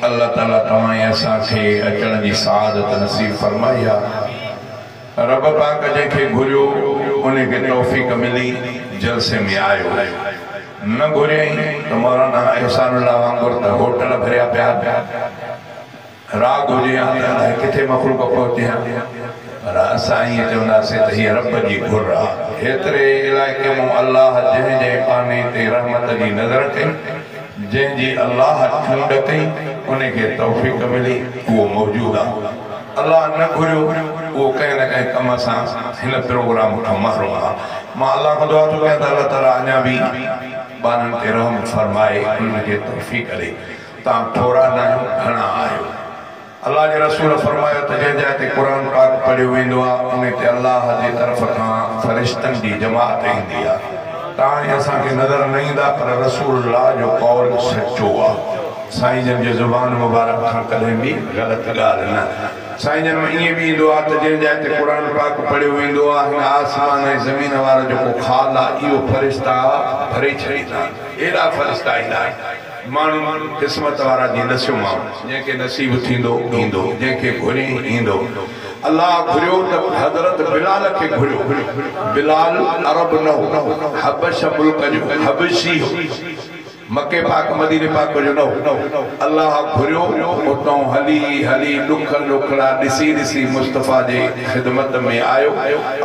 الله تعالي توهان ۽ اسان کي اچڻ جي سعادت نصيب فرمائي يا رب پاڪ جنهن کي گهريو ان کي توفيق ملي جلسي ۾ آيو نه گهريائين ته مولانا احسان الله وانگر ته هوٽل ڀريا پيا آهن راڳ هجي ها ته الائي ڪٿي مخلوق پهچي ها پر اسان ائين چونداسين ته هيء رب جي گهر آهي. ايتري علائقي مون الله جنهن جنهن ٻانهي تي رحمت جي نظر ڪئي. جنهن جي الله چونڊ ڪئي ان کي توفيق ملي اهو موجود آ الله نه گهريو اهو ڪنهن نه ڪنهن ڪم سان هن پروگرام کان محروم آ مان الله کان دعا ٿو ڪيان ته الله تعالي اڃان به ٻارن تي رحم فرمائي انهن کي توفيق ڏي تان ٿورا ناهيو گهڻا آهيو. الله جي رسول فرمايو ته جنهن جاء تي قرآن پاڪ پڙهيو ويندو آهي انهي تي الله جي طرف کان فرشتن جي جماعت ايندي آهي تاڻي اسان کي نظر نه ايندا پر رسول الله جو قول سچو آهي سائين جن جي زبان مبارڪ کان ڪڏهن به غلط ڳالهه نه سائين جن مان ائين به ايندو آهي ته جنهن جاء تي قرآن پاڪ پڙهيو ويندو آهي هن آسمان ۽ زمين وارا جيڪو خال آهي اهو فرشتا ڀري ڇڏيندا آهن ايڏا فرشتا ايندا آهن ماڻهو قسمت وارا جي نسيو مان. جنهن کي نصيب ٿيندو ايندو. جنهن کي گهرين ايندو. الله گهريو ته حضرت بلال کي گهريو. بلال عرب نه هو. حبشه ملڪ جو حبشي هو. مڪي پاڪ مديني پاڪ جو نه هو. الله گهريو اتان هلي هلي ڏکن ڏکڙا ڏسي ڏسي مصطفيٰ جي. خدمت ۾ آيو،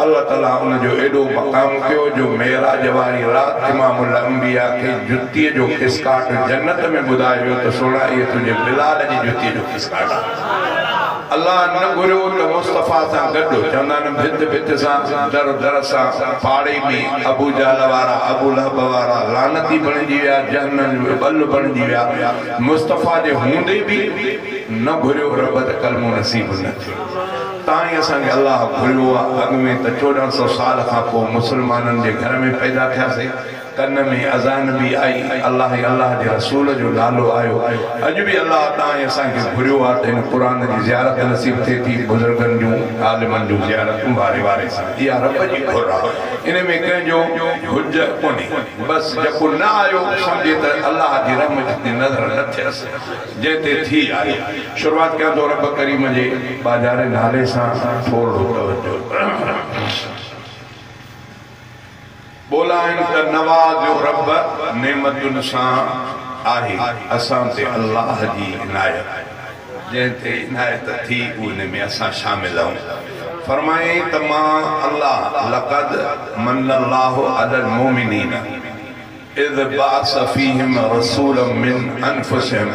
الله تعالي ان جو ايڏو مقام ڪيو جو معراج واري رات امام الانبياء کي جتيء جو کسڪاٽ جنت ۾ ٻڌائي ويو ته سهڻا اهي تنهنجي بلال جي جتيء جو کسڪاٽ آهن. الله نه گهريو ته مصطفيٰ سان گڏ چوندا آهن ڀت ڀت سان، در در سان، پاڙي ۾ ابو جهل وارا، ابو لهب وارا لعنتي بڻجي ويا، جهنم جو ٻل بڻجي ويا، مصطفيٰ جي هوندي به نه گهريو رب ته ڪلمو نصيب نه تائين اسان کي الله گهريو آ، اڳ ۾ ته چوڏهن سؤ سال کان پوء مسلمانن جي گهر ۾ پيدا ٿياسين، ڪن ۾ اذان به آئي، الله ۽ الله جي رسول جو نالو آيو، اڄ به الله تائين اسان کي گهريو آ ته هن قرآن جي زيارت نصيب ٿئي ٿي، بزرگن جون، عالمن جون زيارتون واري واري سان، اها رب جي گهر آ، ان ۾ ڪنهن جو حج ڪونهي، بس جيڪو نه آيو سمجهي ته الله جي رحم جتي نظر نه ٿيس. جنهن تي ٿي آهي شروعات ڪيان ٿو رب ڪريم جي ٻاجهاري نالي سان ٿورڙو توجه ٻولائين ته نوازيو رب نعمتن سان آهي اسان تي الله جي عنايت جنهن تي عنايت ٿي ان ۾ اسان شامل آهون فرمائين ته مان الله لقد من الله علي المومنين. اذ بعث فيهم رسولا من انفسهم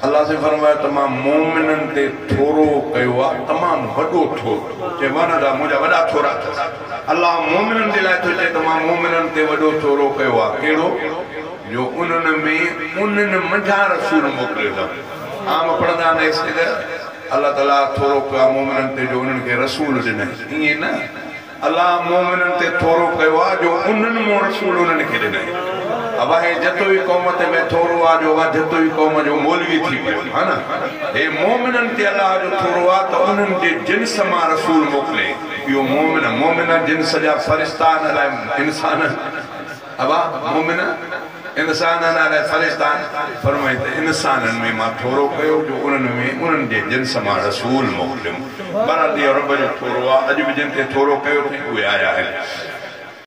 الله سائين فرمايو ته مان مؤمنن تي ٿورو ڪيو آ تمام وڏو ٿورو چي وانا جا منهنجا وڏا ٿورا اٿس الله مؤمنن جي لاء ٿو چي ته مان مؤمنن تي وڏو ٿورو ڪيو آ ڪهڙو جو انهن ۾ انهن منجهان رسول موڪليو اٿم عام پڙهندا آهن ايسڪ ته الله تعالي ٿورو ڪيو آ مؤمنن تي جو انهن کي رسول ڏنائين ائين نه الله مومنن تي ٿورو ڪيو آ جو انھن مون رسول انھن کي ڏنئي اواھي جتوئي قوم تي مين ٿورو آ جو اوا جتوئي قوم جو مولوي ٿي پيو ھا نه ھي مومنن تي الله جو ٿورو آ ته انھن جي جنس مان رسول موڪلي اھو مومن مومن جنس جا فرشتا آھن الاھي انسانن ابا مومنه! انسانن عالي فرشتان فرمائين ته انسانن ۾ مان ٿورو ڪيو جو انهن ۾ انهن جي جنس مان رسول موڪليم. بهرحال اهو رب جو ٿورو آهي، اڄ به جن تي ٿورو ڪيو اٿئي اهي آيا آهن.